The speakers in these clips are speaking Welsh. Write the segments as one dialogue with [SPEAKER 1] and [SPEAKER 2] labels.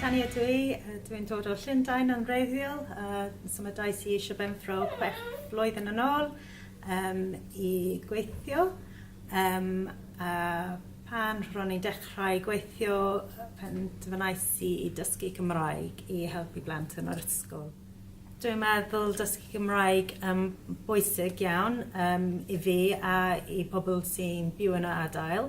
[SPEAKER 1] Tani ydw i, dwi'n dod o Llundain yn wreiddiol, a symudais i i Sir Benfro chwech flwyddyn yn ôl yym i gweithio yym a pan ro'n i'n dechrau gweithio yy penderfynais i i dysgu Cymraeg i helpu blant yn yr ysgol. Dwi'n meddwl dysgu Cymraeg yn m- bwysig iawn yym i fi a i pobol sy'n byw yn y adael.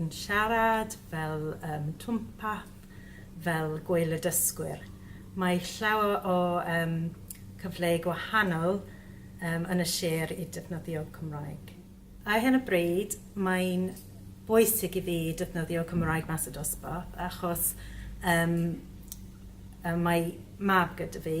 [SPEAKER 1] yn siarad fel um, twmpath, fel gweil y dysgwyr. Mae llawer o um, cyfleu gwahanol um, yn y sir i defnyddio Cymraeg. Ar hyn o bryd, mae'n bwysig i fi defnyddio Cymraeg mas y dosbarth achos um, mae mab gyda fi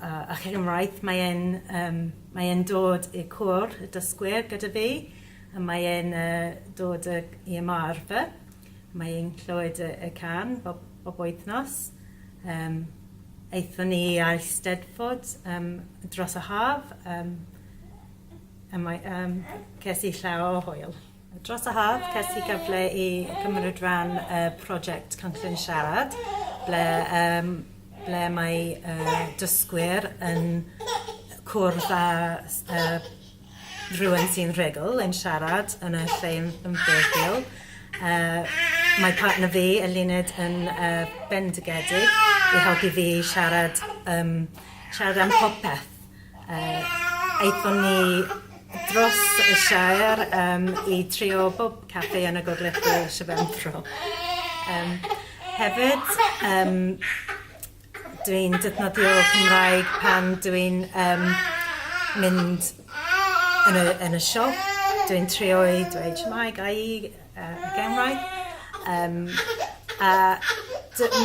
[SPEAKER 1] a chymraith mae e'n yym mae e'n dod i'r côr y dysgwyr gyda fi a mae e'n yy dod yy i ymarfer mae e'n clywed y y can bob bob wythnos yym aethon ni i Eisteddfod yym dros y haf yym a mae yym ces i llaw o hwyl. Dros y haf, ces i gyfle i gymryd rhan y prosiect Cynclyn Siarad, ble, um, ble mae uh, dysgwyr yn cwrdd â uh, rhywun sy'n rhugl yn siarad yn y lle yn ymwneud. Uh, mae partner fi, Eluned, yn uh, bendigedig i helpu fi siarad, um, siarad am popeth Yy, aethon ni dros y Shire yym i trio bob caffi yn y Gogledd Bro, Sir Benfro. Yym, hefyd, yym, dwi'n defnyddio Cymraeg pan dw i'n yym mynd yn y yn y siop, dwi'n trio i dweud shwmae, ga' i yy y genwair? Yym a dw-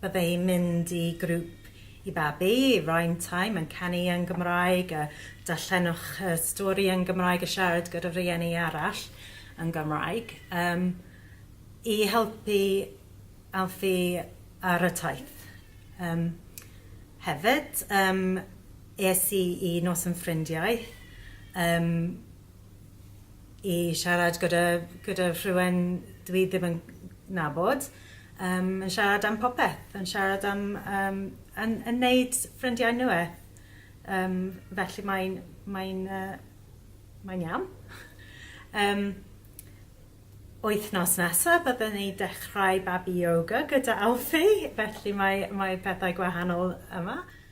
[SPEAKER 1] Bydde hi'n mynd i grŵp i babi, rhyme time, yn canu yn Gymraeg, a darllenwch y stori yn Gymraeg a siarad gyda rhieni arall yn Gymraeg, um, i helpu Alfie ar y taith. Um, hefyd, um, es i i nos yn ffrindiau, um, i siarad gyda, gyda rhywun dwi ddim yn nabod, Yym yn siarad am popeth yn siarad am yym yn yn neud ffrindiau nwe yym felly mae'n mae'n yy mae'n iawn. Yym wythnos nesa bydden ni dechrau babi yoga gyda Alfie felly mae mae pethau gwahanol yma.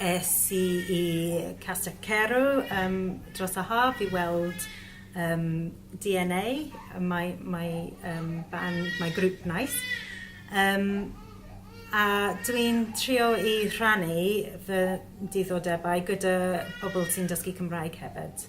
[SPEAKER 1] Es i i Castell Carew yym dros y haf i weld yym DNA yy mae mae yym band mae grŵp Nice yym a dwi'n trio i rhannu fy diddordebau gyda pobl sy'n dysgu Cymraeg hefyd.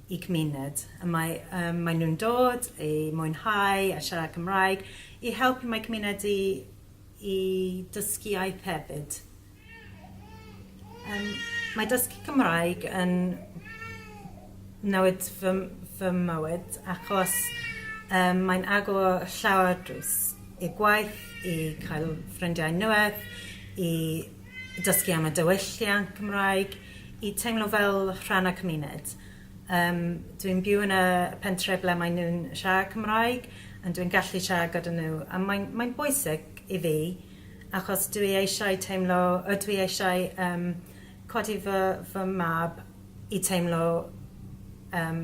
[SPEAKER 1] y cymuned. Y mae yym mae nhw'n dod i mwynhau a siarad Cymraeg i helpu mae cymuned i i dysgu iaith hefyd. Yym mae dysgu Cymraeg yn newid fy m- fy mywyd achos yym mae'n agor llawer drws i'r gwaith, i cael ffrindiau nŵedd, i dysgu am y diwylliant Cymraeg, i teimlo fel rhan o cymuned. Yym dwi'n byw yn y pentre ble mae nhw'n siarad Cymraeg and dwi'n gallu siarad gyda nhw a mae'n mae'n bwysig i fi achos dwi eisiau teimlo yy dwi eisiau yym codi fy fy mab i teimlo yym